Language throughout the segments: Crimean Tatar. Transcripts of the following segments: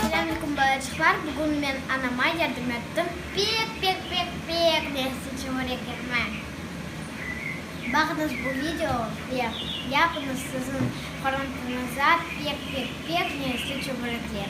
Selâmüküm balacıqlar, bugün men anama yardım ettim. Pek pek pek pek mersi çevirek etme. Baqıñız bu video ve yapıñız siziñ qoruntıñıza pek pek pek mersi çevirekler.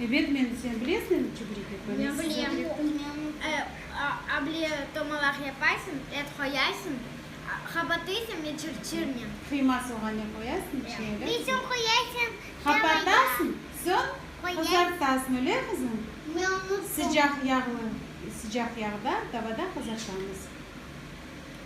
Ebet, men, sen bilesiñ çübrik etme, men size ögrettim. Able tomalaq yapaysıñ, et qoyaysıñ, qapatıysıñ ve çırçırnen. Qıyma, soğan ne qoyaysıñ içine? Bizim qoyaysıñ. Qapatasıñ, soñ qızartasıñ, öyle qızım? Sıcaq yağlı, sıcaq yağda tavada qızartamız.